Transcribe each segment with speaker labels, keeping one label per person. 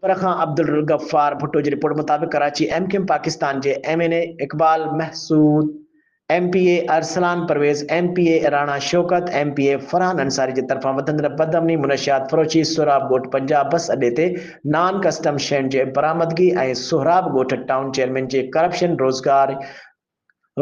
Speaker 1: پر خان عبدالغفار ڀٽو جي رپورٽ مطابق Karachi M Q M Pakistan جي M N A Iqbal Mehsud, M P A Arsalan Parvez, M P A Rana Shaukat, M P A Farhan Ansari جي طرفان وڌندڙ بدامني، منشيات فروشي، سهراب ڳوٺ پنجاب بس اڏي تي نان ڪسٽم شين جي برآمدگي ۽ سهراب ڳوٺ ٽائون چيئرمين جي ڪرپشن روزگار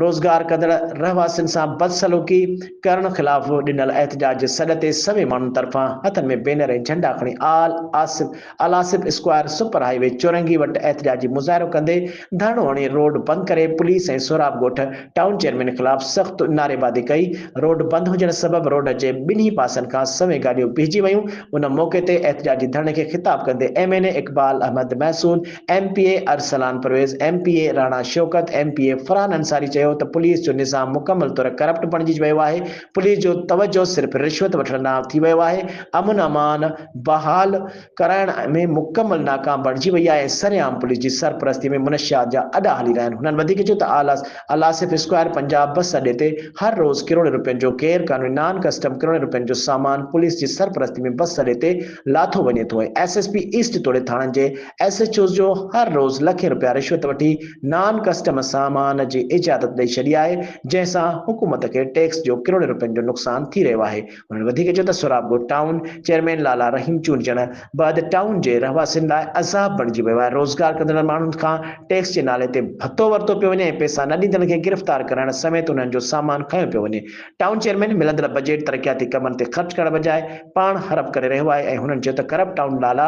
Speaker 1: روزگار ڪندڙ رهواسين سان بدسلوڪي ڪرڻ خلاف ڏنل احتجاج جي سڏ تي سوين ماڻهن طرفان هٿن ۾ بينر ۽ جهنڊا کڻي Al Asif Alasif square super highway چورنگي وٽ احتجاجي مظاهرو ڪندي ڌرڻو هڻي روڊ بند ڪري police ۽ Sohrab Goth town chairman خلاف سخت نعريبازي ڪئي روڊ بند هجڻ سبب روڊ جي ٻنهي پاسن کان سوين گاڏيون بيهجي ويون ان موقعي تي احتجاجي ڌرڻي کي خطاب ڪندي M N A Iqbal Ahmed Mehsud M P A Arsalan Parvez, M P A Rana Shaukat, M P A Farhan Ansari چيو ته پوليس جو نظام مڪمل طور ڪرپٽ بڻجي ويو آهي، پوليس جو توجهه صرف رشوت وٺڻ ڏانهن ٿي ويو آهي، امن امان بحال ڪرائڻ ۾ مڪمل ناڪام بڻجي وئي آهي ۽ سرعام پوليس جي سرپرستي ۾ منشيات جا اڏا هلي رهيا آهن، هنن وڌيڪ چيو ته آصف اسڪوائر پنجاب بس اڏي تي هر روز ڪروڙين روپين جو غير قانوني نان ڪسٽم ڪروڙين روپين جو سامان پوليس جي سرپرستي ۾ بس اڏي تي لاٿو وڃي ٿو ۽ ايس ايس پي ايسٽ توڙي ٿاڻن جي ايس ايڇ اوز جو هر روز لکين رپيا رشوت وٺي نان ڪسٽم سامان جي اجازت ڏئي ڇڏي آهي جنهن سان حڪومت کي ٽيڪس جو ڪروڙين رپين جو نقصان ٿي رهيو آهي هنن وڌيڪ چيو ته سهراب ڳوٺ ٽائون چيئرمين لالا رحيم چونڊجڻ بعد ٽائون جي رهواسين لاء عذاب بڻجي ويو آهي روزگار ڪندڙن ماڻهن کان ٽيڪس جي نالي تي ڀتو ورتو پيو وڃي ۽ پيسا نه ڏيندڙن کي گرفتار ڪرائڻ سميت انهن جو سامان کنيو پيو وڃي ٽائون چيئرمين ملندڙ بجيٽ ترقياتي ڪمن تي خرچ ڪرڻ بجاء پاڻ حرپ ڪري رهيو آهي ۽ هنن چيو ته ڪرپٽ ٽائون لالا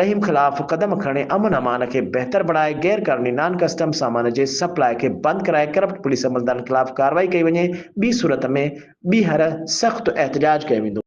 Speaker 1: رحيم خلاف قدم کڻي امن امان کي بهتر بڻائي غير قانوني نان ڪسٽم سامان جي سپلاء کي بند ڪرائي ڪرپٽ پوليس عملدارن خلاف ڪارروائي ڪئي وڃي ٻي صورت ۾ ٻيهر سخت احتجاج ڪيو ويندو.